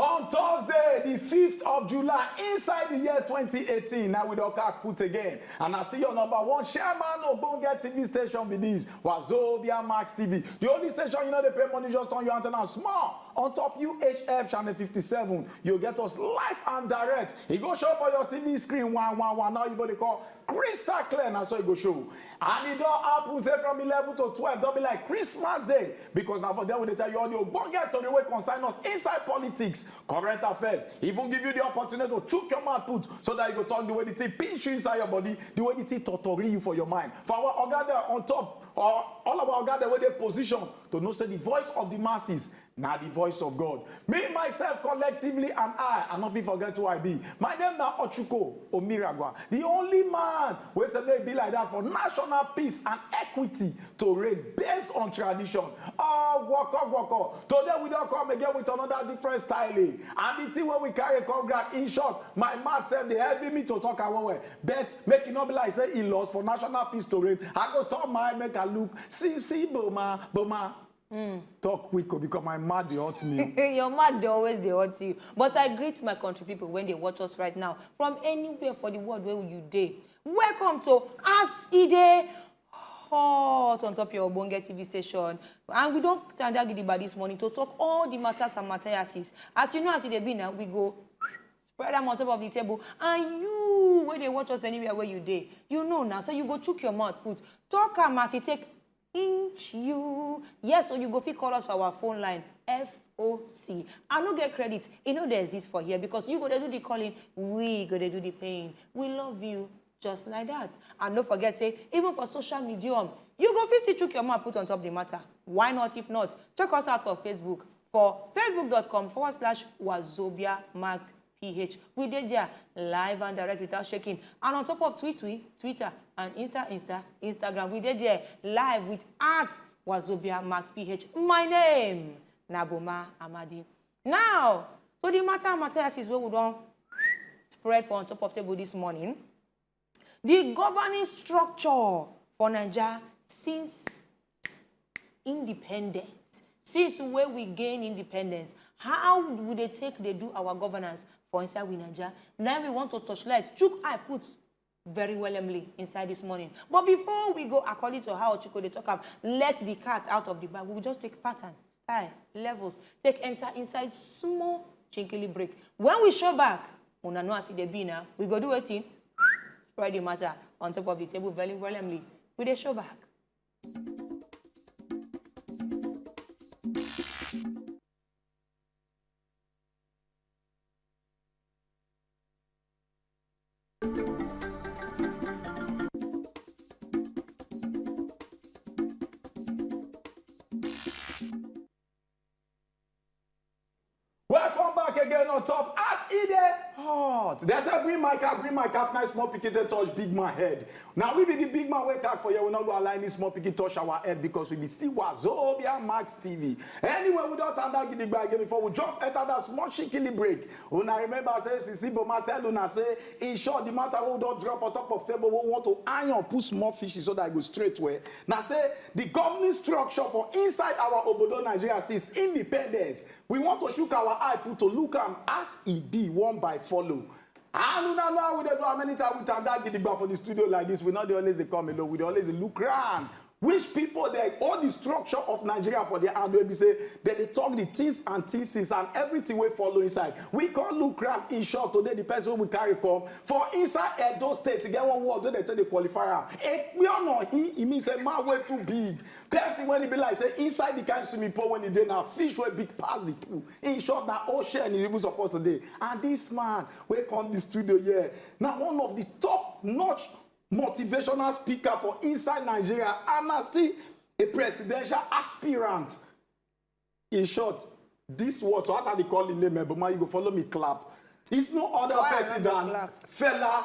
On Thursday, the 5th of July, inside the year 2018, now with Oka put again. And I see your number one chairman of Bonge TV station with this, Wazobia Max TV. The only station you know they pay money just on your antenna small. On top UHF channel 57, you'll get us live and direct. It go show for your TV screen, one, one, one. Now you go to call crystal clear, now so it go show. And e don happun say from eleven to twelve don be like Christmas day because na for there we dey tell you all the ogbonge tori wey concern us inside politics, current affairs, even give you the opportunity to chook your mouth put so that you go talk the way the thing pinch you inside your body, the way the thing totori you for your mind. For our oga dem on top or all our oga dem wey dey position to know say the voice of the masses Na di voice of God. Me myself collectively and I, I no fit forget who I be. My name na Ochuko Omiragwa, di only man wey say make e be like dat for national peace and equity to reign based on tradition. Ogwokogwoko, today we don come again with another different style and di thing wey we carry come ground, in short, my mouth sef dey heavy me to talk am well well but make e no be like say e loss for national peace to reign, I go turn my eye make I look see see boma boma. Mm. Talk quick oh, because my mouth dey hurt me. Oh. Your mouth dey always dey hurt you. But I greet my country people when they watch us right now from anywhere for the world where you dey. Welcome to As E Dey hot on top your Obonge TV station. And we don't stand out by this morning to talk all the matters and materiases. As you know, as it e be now, we go spread them on top of the table. And you, where they watch us anywhere where you day, you know now. So you go chook your mouth, put talk am as you e take inch you yes or you go fit call us for our phone line foc i no get credit e no dey exist for here because you go dey do the calling we go dey do the paying we love you just like that and no forget say even for social media um, you go fit see chook your mouth put on top the matter why not if not check us out for facebook for facebook.com forward slash wazobia max ph we dey there live and direct without shaking and on top of twitter twitter and insta insta instagram we dey there live with at wazobia max ph my name na boma amadi now to the matter matthias is wey we don spread for on top of table this morning the governing structure for naija since independence since wey we gain independence how we dey take dey do our governance for inside we naija na we want to torchlight chook eye put very wellemly inside this morning but before we go according to how ochuko dey talk am let the cat out of the bag we go just take pattern Hi, levels. Take enter inside small chinkily break. When we show back, una know as e dey be na, we go do wetin? Spread the matter on top of the table very willingly. We dey show back. Welcome back again on top as e dey hot. Dem say bring my cap, bring my cap, nice small pikin dey touch big man head. Na we be the big man wey tag for here, we no go allow any small pikin touch our head because we be still Wazobia Max TV. Anyway, we don tanda gidigba again before we jump enter that small shikini break. Una remember say Sisi Boma tell una say in short the matter wey we don drop on top of table wey we want to iron put small fishes so that e go straight well na say the governing structure for inside our obodo Nigeria since independence we want to shook our eye put to look am as e be one by follow and una know how we dey do am anytime we tanda gidigba for the studio like this we no dey always dey come alone we dey always dey look round which people dey hold the structure of nigeria for their hand wey be say dem dey talk the things and things and everything wey follow inside we come look am in short today the person wey we carry come for inside edo state e get one word wey dem take dey qualify am ekpeono he e mean say man wey too big person wey e be like say inside the kind swimming pool wey e dey na fish wey big pass the pool in short na ocean e even suppose to dey and this man wey come the studio here na one of the top notch motivational speaker for inside nigeria and na still a presidential aspirant in short this word so as i dey call him name eboma you go follow me clap it's no other Why person than clap? fela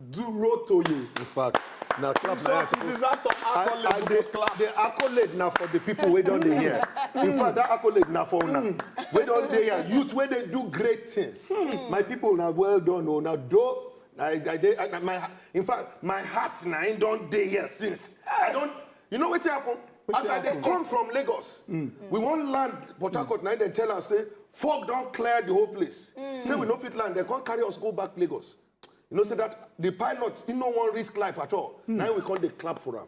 durotoye in fact na clap so na he deserve some accolade I, I, the, clap. the accolade na for the people wey don dey here in fact that accolade na for una hmm. wey don dey here youth wey dey do great things hmm. my people na well done o oh, na do I, I dey I, my in fact my heart na im don dey here since. I don you know wetin happen? As I dey come from Lagos, mm. we wan land Port Harcourt na im dem tell us say fog don clear the whole place. Mm. Say we no fit land, dem come carry us go back Lagos. You know say that the pilot he no wan risk life at all. Mm. Na we come dey clap for am.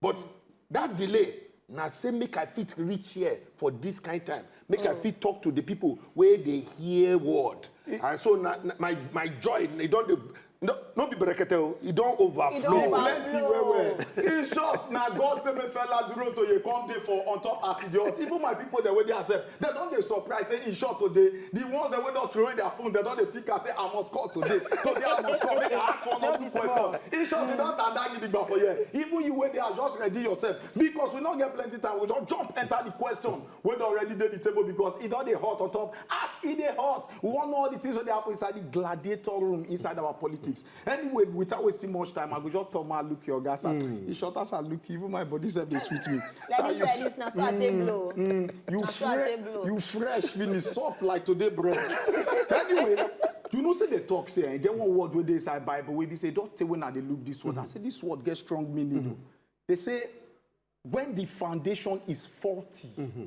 but mm. that delay na say make i fit reach here for this kind time make mm. i fit talk to the people wey dey hear word it, and so na, na my my joy e don dey no no be berekete o e don overflow plenty well well in short na god say make fela duro toye come dey for on top as e dey hot even my people dem wey dey accept Dem don dey surprise say e sure today. The ones dem wey don throway their phone, dem don dey pick am say I must call today. Today I must call make I ask one or two question. In short, we don tanda gidigba for here. Even you wey dey house, just ready yourself because we no get plenty time. We go just jump enter the question wey don already dey the table because e don dey hot on top. As e dey hot, we wan know all the things wey dey happen inside the gladiator room inside our politics. Anyway, without wasting much time, I go just turn my look your gas. Mm. You shot as I look, even my body said they sweet me. like this, like this, now so I take blow. Mm, mm. you, fre- you fresh, finish soft like today bread. anyway, you know say the talk say eh, get one word wey dey inside bible wey be say don tey when i dey look this word mm -hmm. i say this word get strong meaning mm -hmm. they say when the foundation is faulty mm -hmm.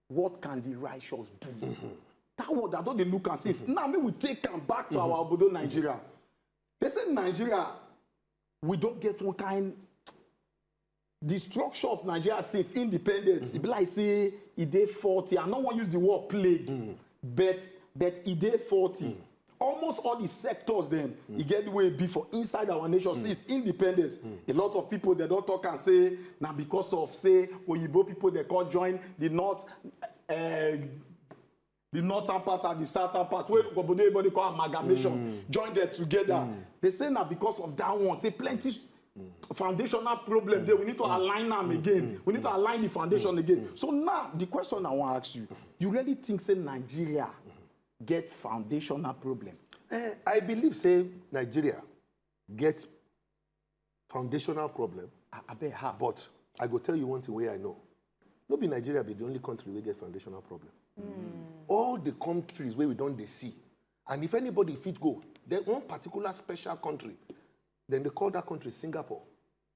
what can the righteous do mm -hmm. that word i don dey look am since mm -hmm. now make we take am back to mm -hmm. our obodo nigeria mm -hmm. they say nigeria we don get one kind the structure of nigeria since independence mm -hmm. e be like say e dey faulty i no wan use the word plague mm -hmm. but but e dey faulty mm -hmm. almost all the sectors dem mm. e get the way e be for inside our nation mm. since independence mm. a lot of people dem don talk am say na because of say oyibo people dey come join the north uh, the northern part and the southern part wey obodo oyibo dey call amalgamation mm. join them together mm. they say na because of that one say plenty foundational problem there we need to align them again we need to align the foundation again so now the question i wan ask you you really think say nigeria get foundational problem. Eh, I believe say Nigeria get foundational problem. I, I bet how. But I go tell you one thing wey I know. No be Nigeria be the only country wey get foundational problem. Mm. All the countries wey we don dey see, and if anybody fit go, then one particular special country, then they call that country Singapore.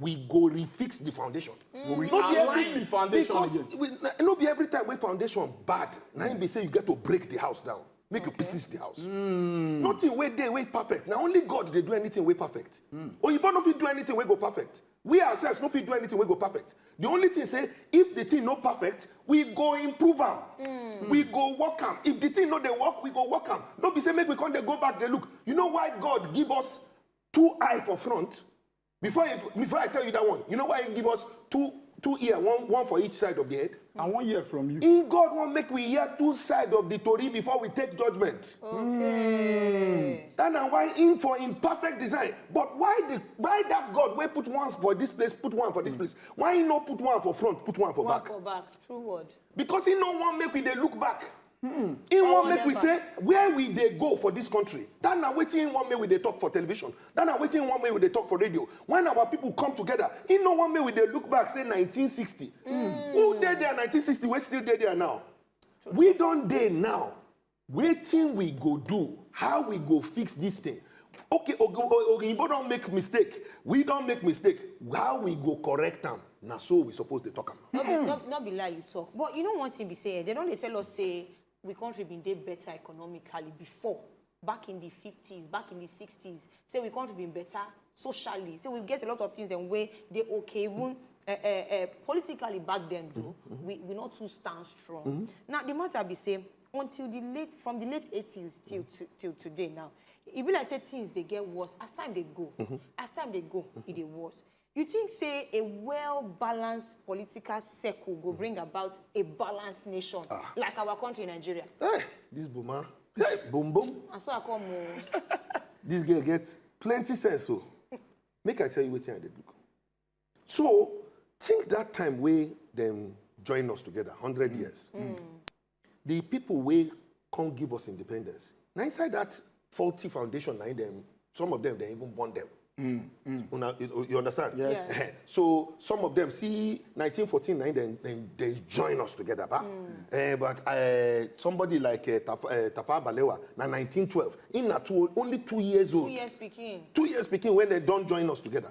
we go refix the foundation. Mm. We no be every the foundation because again. We, no be every time wey foundation bad na im be say you get to break the house down make okay. you pieces the house. Mm. nothing wey dey wey perfect na only God dey do anything wey perfect. Mm. oyibo no fit do anything wey go perfect we ourselves no fit do anything wey go perfect the only thing say if the thing no perfect we go improve am mm. we go work am if the thing no dey work we go work am no be say make we come dey go back dey look you know why god give us two eye for front Before if, before I tell you that one, you know why he give us two two ear, one one for each side of the head? I wan hear from you. In God wan make we hear two side of the tori before we take judgment. Okay. Mm. That na why in for in perfect design. But why the why that God wey put one for this place, put one for this mm. place? Why he no put one for front, put one for one back? One for back, true word. Because he no wan make we dey look back. Hmm. He Or want make we whatever. say where we dey go for this country. That na wetin he want make we dey talk for television. That na wetin he want make we dey talk for radio. When our people come together, he no want make we dey look back say 1960. Who dey there 1960 wey still dey there now? We don dey now. Wetin we go do? How we go fix this thing? Okay, Ogo- O- Oyinbo don make mistake. We don make mistake. How we go correct am? Na so we suppose dey talk am. No be no, no be lie you talk, but you know one thing be say eh, dem don dey tell us say we country bin dey better economically before, back in the fifties, back in the sixties, say we country bin better socially, say we get a lot of things dem wey dey okay even eh, eh, eh, politically back then though, we we no too stand strong. Now the matter be say until the late, from the late eighties till to, till today now, e be like say things dey get worse as time dey go, as time dey go, e dey worse. You think say a well-balanced political circle go bring about a balanced nation Ah. like our country, Nigeria? Hey, this boma. Hey, boom boom. And so I come, oh, This girl gets plenty sense o. Make I tell you wetin I dey do. So think that time wey dem join us together hundred years. The people wey come give us independence, na inside that faulty foundation na dem some of them dem even born them. Mm, mm. Una, you, you understand? Yes. yes. so some of them see 1914 na dem dem they join us together, ba. Mm. Uh, but uh, somebody like uh, Taf, uh, Tafa Balewa na 1912, in na two, only two years old. Two years speaking. Two years speaking when they don't join us together.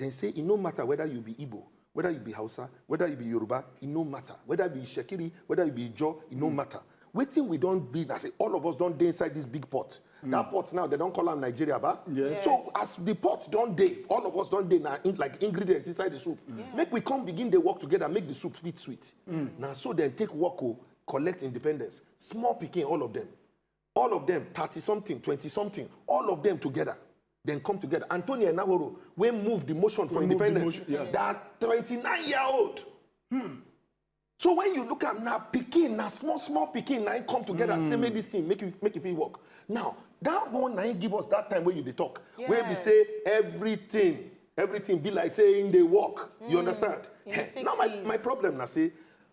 Dem say e no matter whether you be Igbo, whether you be Hausa, whether you be Yoruba, e no matter, whether you be Itsekiri, whether you be Ijaw, e no matter. Wetin we don be na say all of us don dey inside this big pot. That pot now, dem don call am Nigeria ba? Yes. So as the pot don dey, all of us don dey na in, like ingredients inside the soup. Make we come begin dey work together, make the soup fit sweet. Na so dem take work o, collect independence. Small pikin, all of them. All of dem, thirty something, twenty something, all of dem together, dem come together. Antonio Enahoro, wey move the motion for independence, that twenty nine year old. Hmm. So when you look at na pikin, na small small pikin, na come together mm. say make this thing make it make it fit work. Now that one na give us that time when you dey talk, yes. where we say everything everything be like saying they work. Mm. You understand? Hey, now my, my problem na say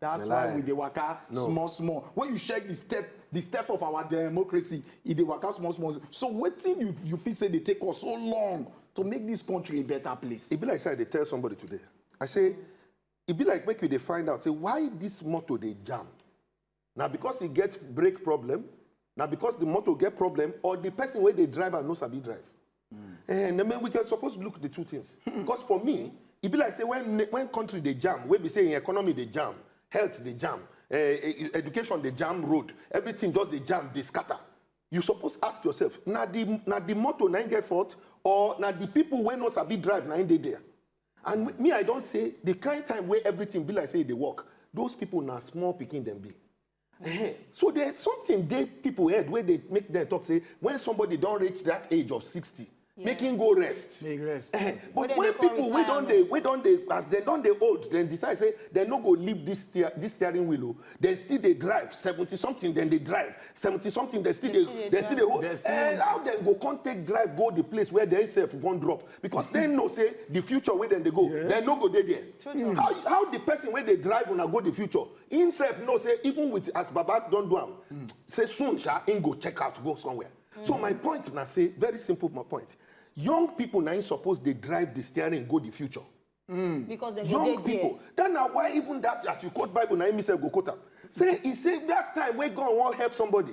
That's why we dey waka no. small small. When you check the step the step of our democracy, e dey waka small small. So wetin you you feel say dey take us so long to make this country a better place? E be like say I dey tell somebody today. I say e be like make you dey find out say why this motor dey jam. Na because e get brake problem na because the motor get problem or the person wey dey drive am no sabi drive mm. eh, na we can suppose look the two things hmm. because for me e be like say when when country dey jam wey be say im economy dey jam health dey jam uh, education dey jam road everything just dey jam dey scatter you suppose ask yourself na the na the motor na im get fault or na the people wey no sabi drive na im dey there and me i don say the kind time wey everything be like say e dey work those people na small pikin dem be Uh-huh. So there's something they people heard where they make them talk say when somebody don't reach that age of 60, yeah. make him go rest. Make rest. Uh-huh. But, but when people we don't they we don't they as they don't they old, then decide say they no go leave this steer, this steering wheel. Oh. Then still they drive 70 something, then they drive 70 something, they still they, they, they still they hold. And eh, how then go can't take drive go the place where they self won't drop because they know say the future where then they go, yeah. they no go there there. How, how the person where they drive when I go the future, Him sef know say even with as baba don do am, mm. say soon sha him go check out go somewhere. Mm. So my point na say very simple my point. Young people na him suppose dey drive the steering go the future. Mm. Because they young go people. There. Then na why even that as you quote Bible na him himself go quote am. Say he say that time wey God wan help somebody,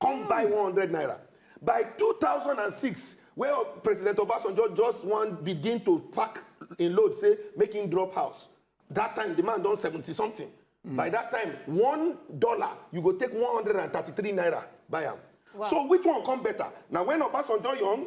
come buy one hundred naira by two thousand and six wey president obasanjo just wan begin to pack im load say make im drop house that time the man don seventy something mm. by that time one dollar you go take one hundred and thirty-three naira buy am wow. so which one come better na when obasanjo young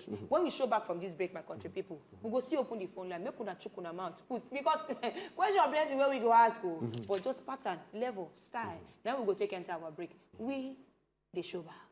when we show back from this break my country people we go still open the phone line make una chook una mouth put because question plenty wey we go ask o but just pattern level style na we go take enter our break we dey show back.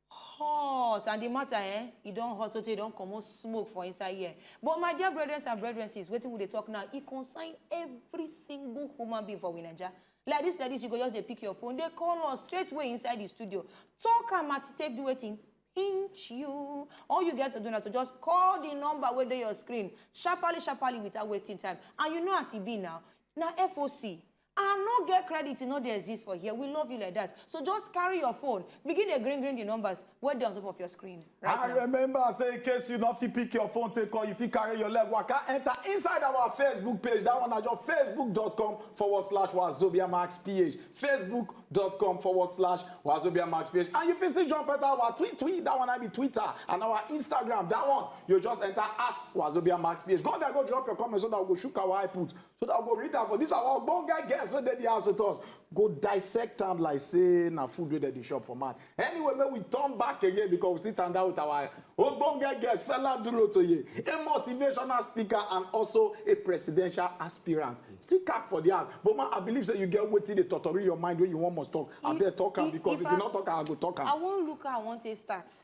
hot and the matter eh e don hot sotey e don comot smoke for inside here but my dear brethren and brethren sis wetin we dey talk now e concern every single human being for we naija like this like this you go just dey pick your phone dey call us straight way inside the studio talk am as e take do wetin pinch you all you get to do na to just call the number wey dey your screen sharparly sharparly without wasting time and you know as e be now na foc I no get credit e no dey exist for here we love you like that so just carry your phone begin dey grin grin the numbers wey dey on top of your screen right now. And remember say in case you no fit pick your phone take call, you fit carry your leg waka enter inside our Facebook page, that one na just facebook.com forward slash wazobia max ph, facebook.com forward slash wazobia max ph. And you fit still jump enter our tweet tweet, that one na be Twitter, and our Instagram, that one you just enter at wazobia max ph. Go there go drop your comment so that we go shook our eye put so that we go read am for this our ogbonge guests wey dey the house with us go dissect am like say na food wey dem dey shop for mouth anyway make we turn back again because we still stand out with our ogbonge guest fela durotoye a motivational speaker and also a presidential aspirant still cap for the house but ma i believe say you get wetin dey totori your mind wey you wan must talk abeg talk am because if you no talk am i go talk am. i wan look how i wan take start.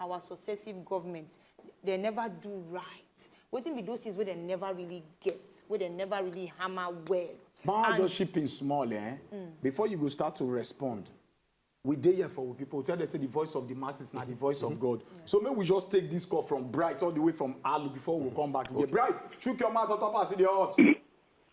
our successive government dem never do right wetin be those things wey dem never really get wey dem never really hammer well. ma and... just chip in small eh? Mm. before you go start to respond we dey here for we people tell them say the voice of the masses na the voice of mm-hmm. god yeah. so make we just take this call from bright all the way from alu before we come back okay. bright chook your mouth on top as e dey hot.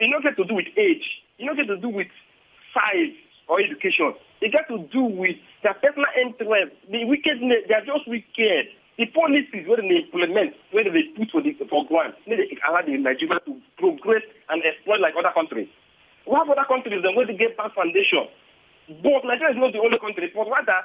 e no get to do with age, e no get to do with size or education. E get to do with their personal interest, the wickedness, they are just wicked. The policies wey dem dey implement, wey dem dey put for the for ground, make dey allow the Nigeria to progress and exploit like other countries. We have other countries dem wey dey get bad foundation, but Nigeria is not the only country, but rather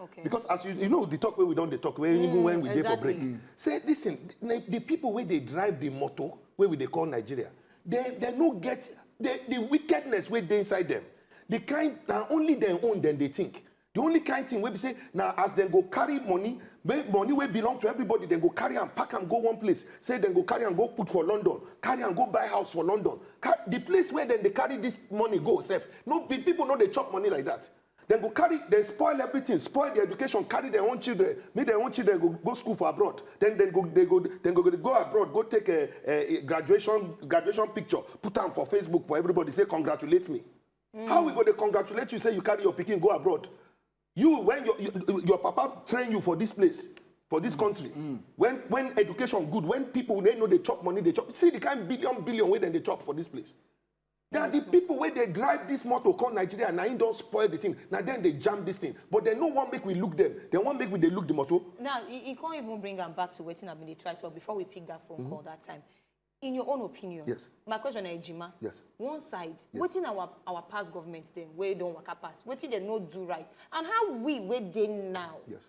okay because as you you know the talk wey we don dey talk wey mm, even when we dey exactly. for break mm. say listen the, the people wey dey drive the motor wey we dey call nigeria they they no get the the wickedness wey dey inside them the kind na only dem own dem dey think the only kind thing wey be say na as dem go carry money money wey belong to everybody dem go carry am pack am go one place say dem go carry am go put for london carry am go buy house for london Car the place where dem dey carry this money go sef no people no dey chop money like that Dem go carry dem spoil everything, spoil their education, carry dem own children, make dem own children go go school for abroad, then dem go dey go dem go dey go abroad go take eh eh graduation graduation picture put am for Facebook for everybody say congratulate me. Mm. How we go dey congratulate you say you carry your pikin go abroad? You when your your, your papa train you for this place for this country mm. when when education good when people wey no dey chop money dey chop see the kind billion billion wey dem dey chop for this place na di pipo wey dey drive dis motor come nigeria na im don spoil di tin na dem dey jam dis tin but dem no wan make we look dem dem wan make we dey look di motor. now e e come even bring am back to wetin i bin dey try talk before we pick that phone call that time in your own opinion Yes. my question na ejima Yes. one side wetin our our past government dem wey don waka pass wetin dem no do right and how we wey dey now Yes.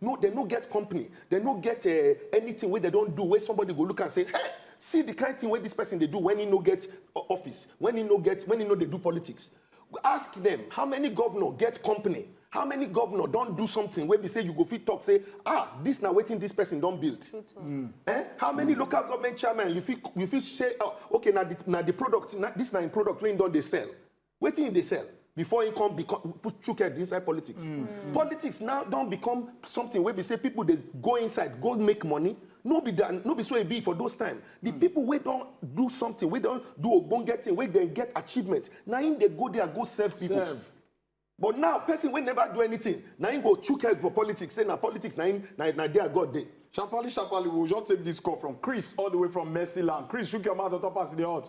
No, dem no get company, dem no get eh, anything wey dem don do wey somebody go look am say, hey, see the kind thing wey this person dey do when he no get o- office, when he no get, when he no dey do politics. Ask them, how many governor get company? How many governor don do something wey be say you go fit talk say, ah, this na wetin this person don build? Eh? How many local government chairman you fit you fit say, oh, okay, na the na the product, na, this na im product wey he don dey sell? wetin im dey sell before im come become put chook head inside politics mm. Mm. politics now don become something wey be say people dey go inside go make money no be that no be so e be for those time the mm. people wey don do something wey don do ogbonge thing wey dem get achievement na im dey go there go serve people serve. but now person wey never do anything na im go chook head for politics say na politics na im na, na there god dey. sharparly sharparly we we'll just take this call from chris all the way from mercyland chris shook your mouth on top as e dey hot.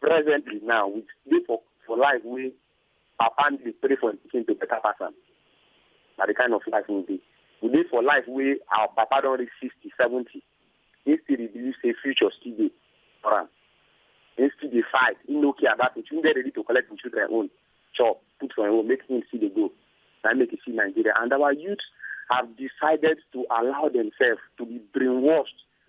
presently now we dey for for life wey papa and dey pray for him pikin to better pass am na the kind of life we dey we dey for life wey our papa don reach sixty seventy he still dey believe say future still dey for am he still dey fight he no care about it he dey ready to collect him children own chop put for him own make him still dey go na make you see nigeria and our youth have decided to allow themselves to be brainwashed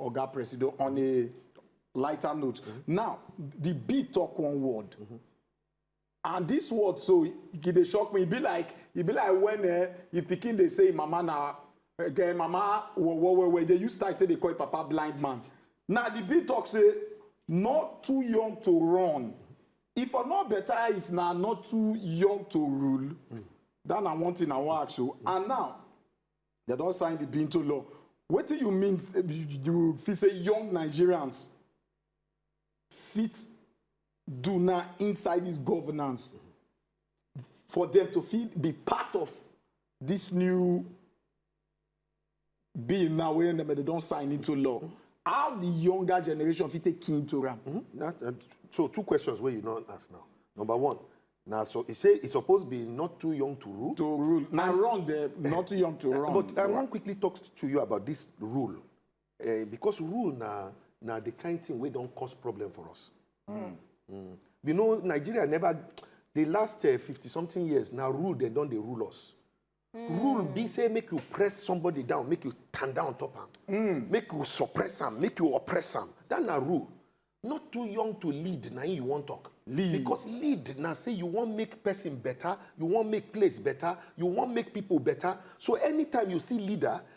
oga presido on a lighter note now di bill talk one word and dis word so e dey shock me e be like e be like wen eh, if pikin dey say im mama na eh, mama wowo well well dey use style take dey call im papa blind man na di bill talk say not too young to run if for not better if na not too young to rule that na one thing i wan ask you and now They don't sign the Binto law. What do you mean you fit say young Nigerians fit do now inside this governance for them to fit be part of this new bill now wey dem dey don sign into law how the younger generation fit take key into am. Mm -hmm. so two questions where you not ask now number one na so e say e suppose be not too young to rule. to rule na and, run the not too young to run. but i wan quickly talk to you about this rule uh, because rule na na the kind thing wey don cause problem for us. Mm. Mm. you know nigeria never the last uh, fifty uh, something years na rule dem don dey rule us. Mm. Rule be say make you press somebody down, make you stand down top him, mm. make you suppress him, make you oppress him. That na rule. Not too young to lead, now you won't talk. Lead. Because lead, now say you won't make person better, you won't make place better, you won't make people better. So anytime you see leader,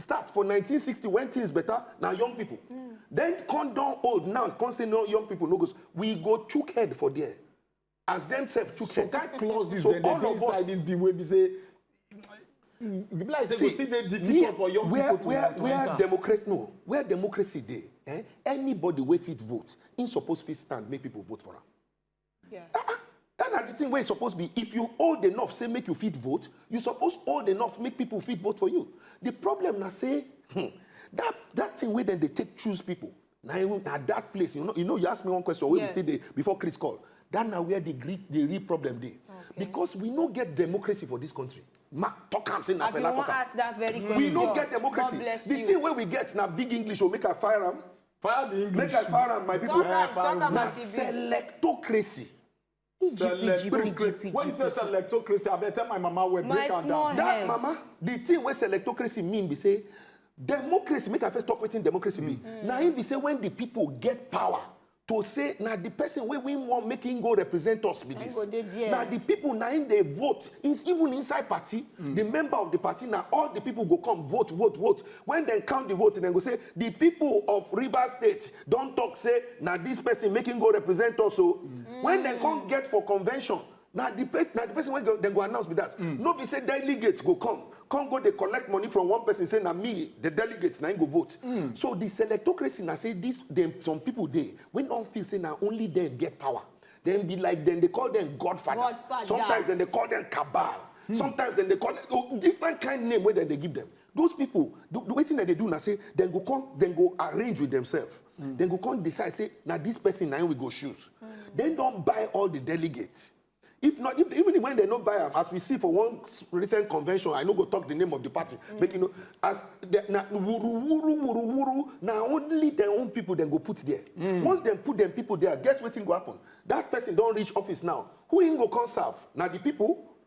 start for 1960 when things better na young people mm. then come don old now come say no young people no go we go chook head for there as them sef chook so head. some kind clauses so dem dey dey inside this bill wey be say mm, be like say go still dey difficult for young where, people to where, to where enter. democracy no where democracy dey eh, anybody wey fit vote im suppose fit stand make people vote for am. Yeah. Ah, ah, that na the thing wey e suppose be if you old enough say make you fit vote you suppose old enough make people fit vote for you the problem na say hmm, that that thing wey dem dey take choose people na na that place you know you know you ask me one question wey yes. we still dey before chris call that na where the great the real problem dey okay. because we no get democracy for this country ma talk am say na fela talk am we no get democracy the thing wey we get na big english o make i fire am Fire the English. Make I fire am, my people. Shut am, shut am, Na my TV. selectocracy. Selectocracy. When you say selectocracy, I better tell my mama well, My break am small down. head. That mama, the thing wey selectocracy mean be say democracy, make I first talk wetin democracy be. Na im be say when the people get power to say na the person wey we wan make him go represent us be Na him this. go dey there. Na the people na im dey vote. Ins- Even inside party, the member of the party na all the people go come vote, vote, vote. Wen dem count di votes, dem go say, Di pipo of Rivers State don tok say na dis pesin make im go represent us o. Wen dem come get for convention, na di pesin wey dem go announce be dat. No be say delegates go come, come go dey collect money from one pesin say na me, di delegates, na im go vote. So di selectocracy na say dis dem, some pipo dey wey don feel say na only dem get power. Dem be like dem dey call dem godfather, sometimes dem dey call dem cabal, sometimes dem dey call dem different kain name wey dem dey give dem. Those people, the, the wetin dem dey do na say dem go come, dem go arrange with themselves. Mm. Dem go come decide say na this person na we go choose. Mm. Dem don buy all the delegates. If not, if, even when they no buy am, as we see for one recent convention, I no go talk the name of the party. Mm. Make you know, as the, na wuru wuru wuru wuru, na only their own people dem go put there. Mm. Once dem put dem people there, guess wetin go happen? That person don reach office now. Who im go come serve? Na the people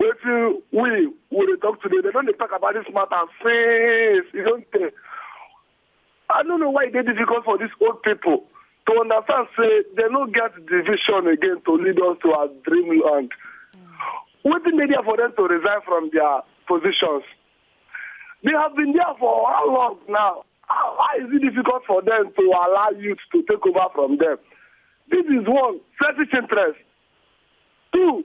wetin we we dey talk today dem don dey talk about this matter since e don tey i no know why e dey difficult for these old people to understand say dem no get the vision again to lead us to our dreamland wetin dey there for them to resign from their positions they have been there for how long now How- why is it difficult for them to allow youth to take over from them this is one selfish interest two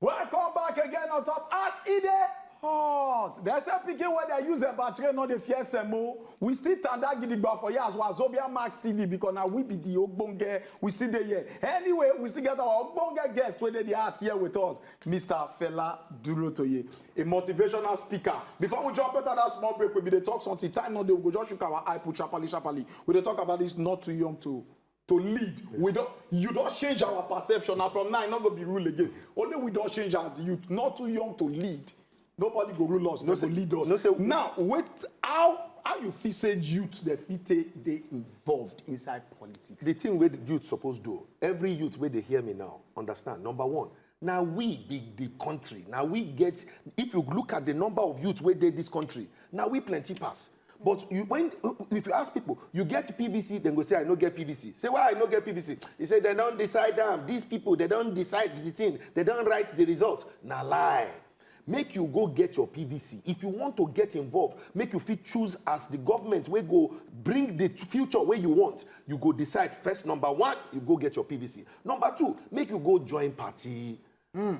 Welcome back again on top as e dey hot. Dem say pikin wey dem use eba train no dey fear semo. We still tanda gidigba for here as Wazobia Max TV because na we be the ogbonge. We still dey here. Anyway, we still get our ogbonge guest wey dey the house here with us. Mister Fela Durotoye, a motivational speaker. Before we jump enter that small break, we be dey talk something. Time no dey, we go just shook our eye put sharply, sharply. We dey talk about this not too young to to lead. We don you don change our perception and from now e no go be rule again. Only we don change as the youth, not too young to lead. nobody go rule us no go lead us no say now wait how how you feel say youth dey fit take dey involved inside politics. the thing wey youth suppose do every youth wey dey hear me now understand number one na we be the country na we get if you look at the number of youth wey dey this country na we plenty pass but you, when if you ask people you get pvc then go say i no get pvc say why i no get pvc he say they don't decide them. these people they don't decide the thing they don't write the result Now lie make you go get your pvc if you want to get involved make you fit choose as the government wey go bring the future wey you want you go decide first number one you go get your pvc number two make you go join party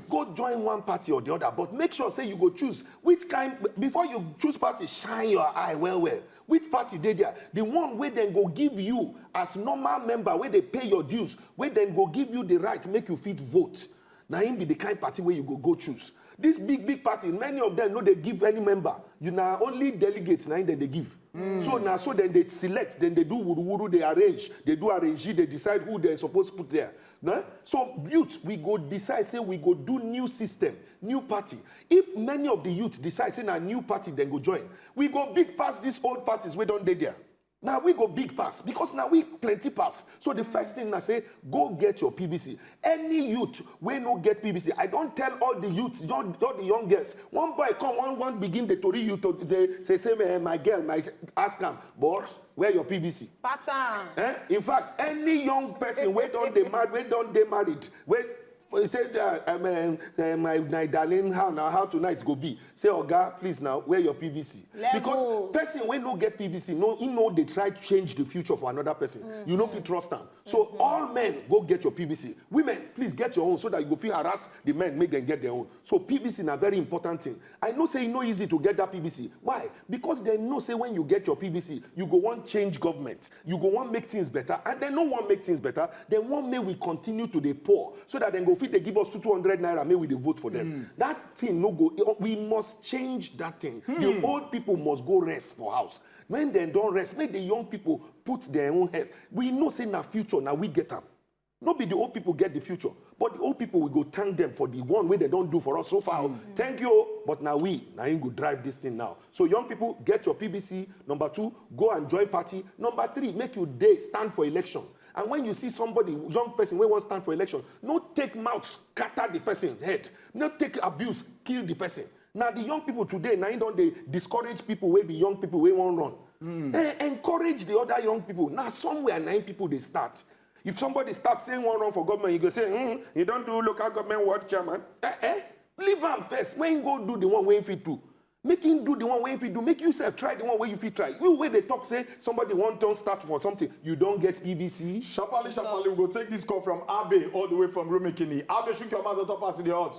Go join one party or the other but make sure say you go choose which kind before you choose party shine your eye well well which party dey there the one wey dem go give you as normal member wey dey pay your dues wey dem go give you the right make you fit vote na him be the kind party wey you go go choose this big big party many of them no dey give any member you na only delegate na him dem dey give so na so dem dey select dem dey do wuru wuru dey arrange dey do arrangee dey decide who dem suppose put there Na so youth we go decide say we go do new system, new party. If many of di youth decide say na new party dem go join, we go big pass dis old parties wey don dey dia. Na we go big pass because na we plenty pass. So di first tin na say go get your PVC. Any youth wey no get PVC, I don tell all di youths, all di young girls. One boy come wan wan begin dey tori you to say say my girl, my ask am boss. Where your pvc? Pattern. Eh? In fact, any young person wey don dey married, wey don dey married, wey he say uh, um, um, uh, my, my darling how na how tonight go be say oga please now wear your pvc Level. because person wey no get pvc no he no dey try change the future for another person mm -hmm. you no fit trust am so mm -hmm. all men go get your pvc women please get your own so that you go fit harass the men make dem get their own so pvc na very important thing I know say e no easy to get dat PVC, why? Because dem know say wen you get your PVC, you go wan change government, you go wan make tins beta and dem no wan make tins beta, dem wan make we continue to dey poor so dat dem go fit dey give us two two hundred naira make we dey vote for dem. Dat tin no go, we must change dat tin, di old pipo must go rest for house, wen dem don rest make di young pipo put dem own head, we know say na future, na we get am. No be di old pipo get di future but di old pipo we go thank dem for di one wey dem don do for us so far o thank you o but na we na im go drive dis thing now so young pipo get your pvc number two go and join party number three make you dey stand for election and when you see somebody young person wey wan stand for election no take mouth scatter di person head no take abuse kill di person na di young pipo today na im don dey discourage pipo wey be young pipo wey wan run encourage di other young pipo na somewhere na im pipo dey start If somebody start saying one run for government, you go say, hmm, you don't do local government ward chairman. Eh, eh? Leave him first. When you go do the one way if you do, make him do the one way if you do. Make yourself try the one way if you try. You where they talk say somebody one turn start for something, you don't get PVC. Shapali, Shapali, we go take this call from Abe all the way from Rumikini. Abe, shoot your mouth on top as the hot.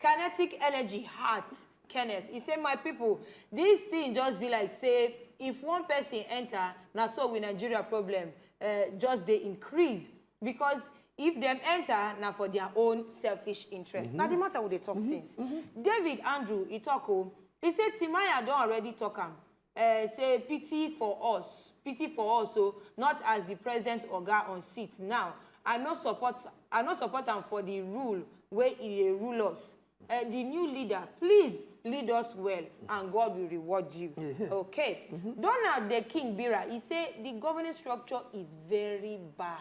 Kinetic energy heart Kenneth, e say my pipo dis tin just be like say if one pesin enta na so we Nigeria problem eh, just dey increase because if dem enta na for dia own selfish interest. Mm-hmm. Na di matter we dey talk mm-hmm. since. Mm-hmm. David Andrew e talk o, oh, e say Timaya don already talk am. eh, say pity for us pity for us o not as di president oga on seat now i no support i no support am for di rule wey e dey rule us eh, di new leader please lead us well and god will reward you okay donald the king bira e say di governing structure is very bad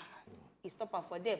e stop am for there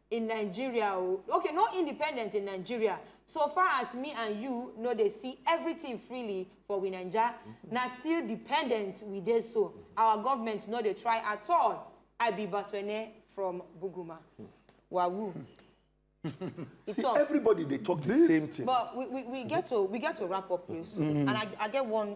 in Nigeria o okay no independent in Nigeria so far as me and you no dey see everything freely for we Naija na still dependent we dey so our government no dey try at all I be Baswene from Buguma wawoo. It's See, all. everybody they talk the This- same thing. But we, we, we get to we get to wrap up, please. And I, I get one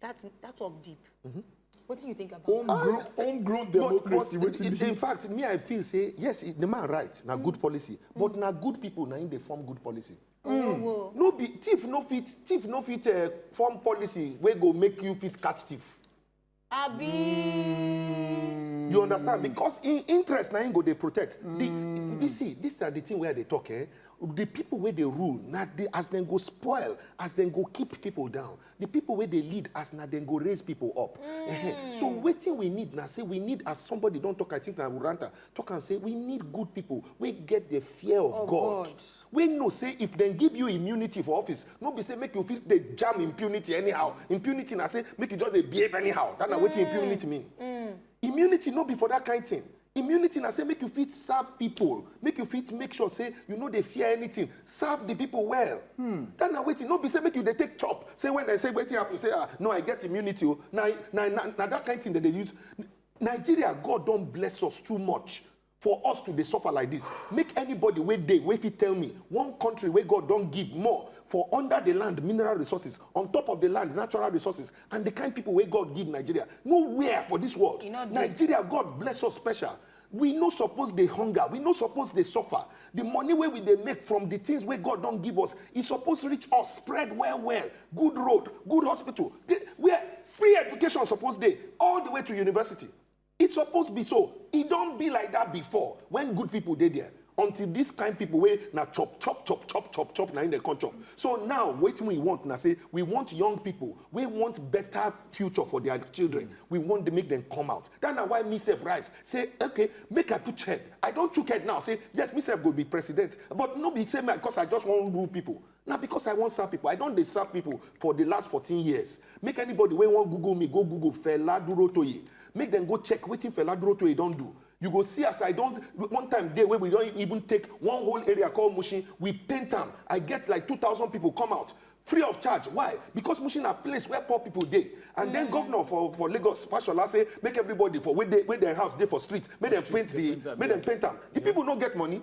that that one deep. Mm -hmm. What do you think about homegrown ah, eh, homegrown democracy but, but in, in, in fact me i feel say yes the man right na mm. good policy mm. but na good people na im dey form good policy. Oh, mm. Oh, no be thief no fit thief no fit uh, form policy wey go make you fit catch thief. abi. Mm. you understand because in interest na im go dey protect. Mm. the you see this na the thing wey i dey talk eh the people wey dey rule na the as dem go spoil as dem go keep people down The people wey dey lead as na dem go raise people up. Mm. so wetin we need na say we need as somebody don talk, I think na Ruranta talk am say we need good people wey get the fear of, of God. God. We know say if dem give you immunity for office, no be say make you fit dey jam impunity anyhow. Impunity na say make you just dey behave anyhow. That na mm. wetin impunity mean. Mm. Immunity no be for that kind thing. Immunity na say make you fit serve people, make you fit make sure say you no dey fear anything, serve the people well. Hmm. That na wetin no be say make you dey take chop. Say when they say wetin happen, say ah no I get immunity o. Oh. Na na na na that kind thing that they use. Nigeria God don bless us too much for us to dey suffer like this. Make anybody wey dey wey fit tell me one country wey God don give more for under the land mineral resources, on top of the land natural resources, and the kind people wey god give nigeria nowhere for this world nigeria god bless us special we no suppose dey hunger we no suppose dey suffer the money wey we dey make from the things wey god don give us e suppose reach us spread well well good road good hospital where free education suppose dey all the way to university E suppose be so, e don be like dat before wen good pipo dey there until dis kain pipo wey na chop chop chop chop chop chop na im dem come chop. So now wetin we want na say we want young pipo wey want better future for dia children, we want dem make dem come out. Dat na why me sef rise say okay make I put head, I don chook head now say yes me sef go be president but no be say na because I just wan rule pipo. na because i wan serve people i don dey serve people for the last 14 years make anybody wey wan google me go google fela durotoye make dem go check wetin fela durotoye don do you go see as i don one time dey wey we don even take one whole area called mushin we paint am i get like 2000 people come out free of charge why because mushin na place where poor people dey and then mm. governor for for lagos fashola say make everybody for wey dey wey dem house dey for street make dem paint the make dem paint am the people no get money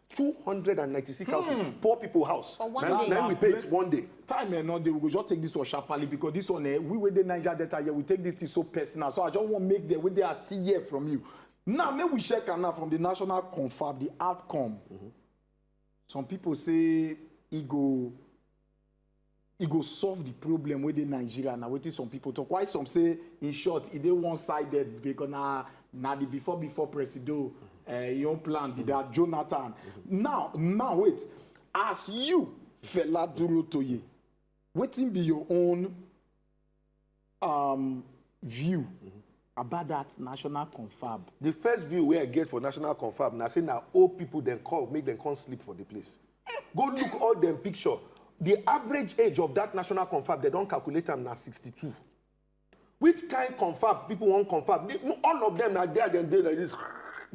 296 hmm. houses mm. poor people house for one now, day now we pay it one day time eh no dey we go just take this one sharply because this one eh we wey dey niger delta here we take this thing so personal so i just wan make the wey dey are still here from you now make we check am now from the national confab the outcome mm -hmm. some people say e go e go solve di problem wey dey Nigeria na wetin some pipo tok while some say in short e dey one sided becos na na di before before presido eh, im own plan be dat Jonathan now now wait as you Fela Durotoye wetin be your own um, view mm-hmm. about that national confab. the first view wey i get for national confab na say na old people dem call make dem come sleep for the place go look all dem picture the average age of that national confab dem don calculate am na 62 which kind confab people wan confab all of them na there dem dey like this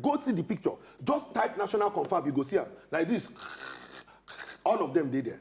go see the picture just type national confab you go see am like this all of them dey there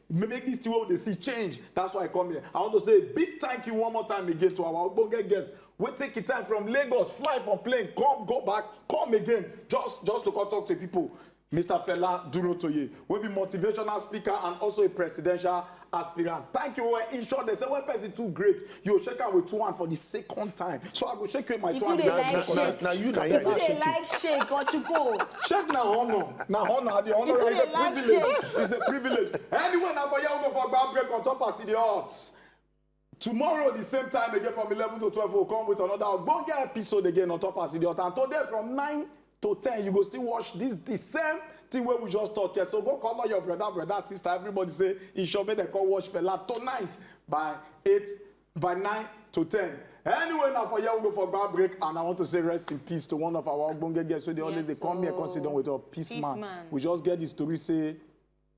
make this thing wey we dey see change that's why i come here i want to say a big thank you one more time again to our ogbonge guest wey take the time from lagos fly from plane come go back come again just just to come talk to people mr fela durotoye wey be motivational speaker and also a presidential aspirant thank you well in short they say when person too great You shake am with two hand for the second time. So I go shake you with my If two you hand. dey na- like na- shake, na you na if you you dey shake. like shake or to go, Shake na honor. Na honor. I dey honor. If you It's a dey like privilege. It's a privilege. Anyway, na for here we go for ground break on top as e dey hot. Tomorrow the same time again from eleven to twelve we go come with another ogbonge episode again on top as e dey hot and today from nine to ten you go still watch this the same thing wey we just talk here so go call all your brother brother sister everybody say e sure make dem come watch fela tonight by eight by nine to ten anyway na for here we go for gba break and i want to say rest in peace to one of our ogbonge guests wey dey always dey come here come sit down with us peace Peace man man. we just get the story say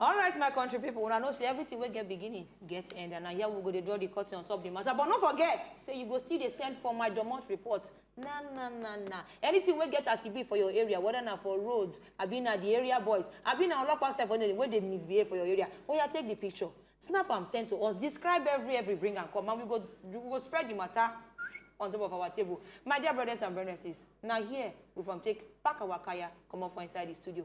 alright my country pipo una know say everything wey get beginning get end and na here we go dey draw the curtain on top the matter but no forget say you go still dey send for my domot report na na na na anything wey get as e be for your area whether na for road abi na the area boys abi na olopa sef wey wey dey misbehave for your area oya take the picture snap am send to us describe every every bring am come and we go we go spread the matter on top of our table my dear brothers and brothers na here we from take pack our kaya comot for inside the studio